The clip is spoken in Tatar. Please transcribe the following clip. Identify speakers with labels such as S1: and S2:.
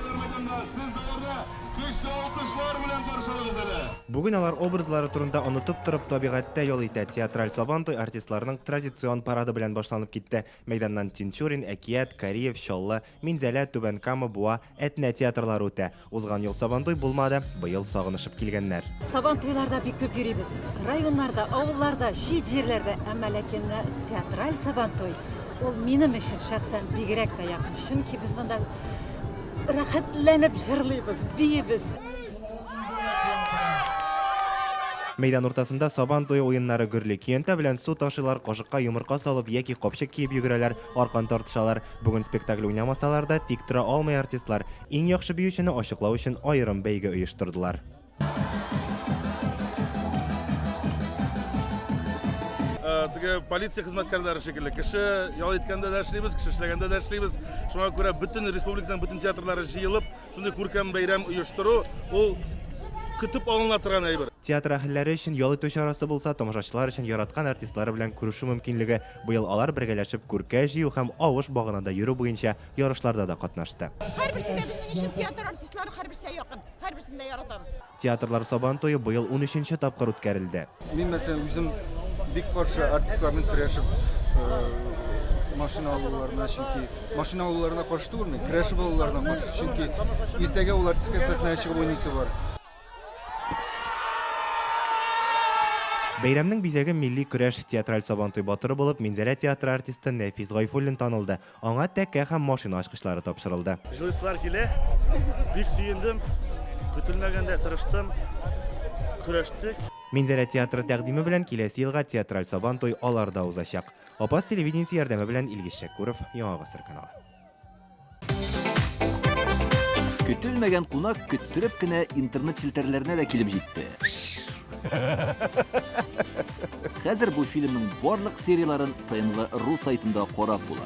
S1: Күргәзмә мәйданында сез дә аларны көчле алкышлар белән каршы алыгыз әле! Бүген алар образлары турында онытып торып табигатьтә ял итә. Театраль Сабантуй артистларының традицион парады белән башланып китте. Мәйданнан Тинчурин, Әкият, Кариев, Чаллы, Минзәлә, Түбән Кама, Буа, Әтнә театрлары үтә. Узган ел Сабантуй булмады, быел сагынышып килгәннәр. Сабантуйларда бик
S2: күп йөрибез. Районнарда, авылларда, чит җирләрдә, әмма ләкин театраль Сабантуй, ул минем өчен шәхсән бигрәк тә якын, чөнки без монда Рәхәтләнеп җырлыйбыз, биибез.
S1: Мәйдан уртасында Сабан туе уеннары гөрли. Көянтә белән су ташыйлар, кашыкка йомырка салып яки капчык киеп йөгерәләр, аркан тартышалар. Бүген спектакль уйнамасалар да, тик тора алмый артистлар. Иң яхшы биючене ачыклау өчен аерым бәйге оештырдылар.
S3: теге полиция хезмәткәрләре шикелле кеше ял иткәндә дә эшлибез кеше эшләгәндә дә эшлибез шуңа күрә бөтен республиканың бөтен театрлары җыелып шундый күркәм бәйрәм оештыру ул көтеп алына торган әйбер театр әһелләре өчен
S1: ял итү чарасы булса тамашачылар өчен яраткан артистлары белән күрешү мөмкинлеге быел алар бергәләшеп күркә җыю һәм авыш баганада йөрү буенча ярышларда да катнашты һәрберсе дә безнең өчен
S4: театр артистлары һәрберсе дә якын Һәрберсен дә яратабыз. Театрлар Сабантуе
S1: быел унөченче тапкыр үткәрелде. Мин, мәсәлән, үзем
S5: бик каршы артистларның көрәшеп машина алуларына, чөнки машина алуларына каршы түгел мин, көрәшеп алуларына каршы, чөнки иртәгә ул артистка сәхнәгә чыгып уйныйсы бар.
S1: Бәйрәмнең бизәге милли көрәш, театраль Сабантуй батыры булып Минзәлә театры артисты Нәфис Гайфуллин танылды. Аңа тәкә һәм машина ачкычлары тапшырылды. Жилыйсылар килә.
S6: Бик сөендем. Көтелмәгәндә тырыштым. Көрәштек. Минзәлә
S1: театры тәкъдиме белән киләсе елга театраль Сабан туй алар да узачак. Апас телевидениесе ярдәме белән Илгиз Шәкүров, Яңа гасыр каналы.
S7: Көтелмәгән кунак көттереп кенә интернет челтәрләренә дә килеп җитте. Хәзер бу фильмның барлык серияләрен ТНВ.ру сайтында карап була.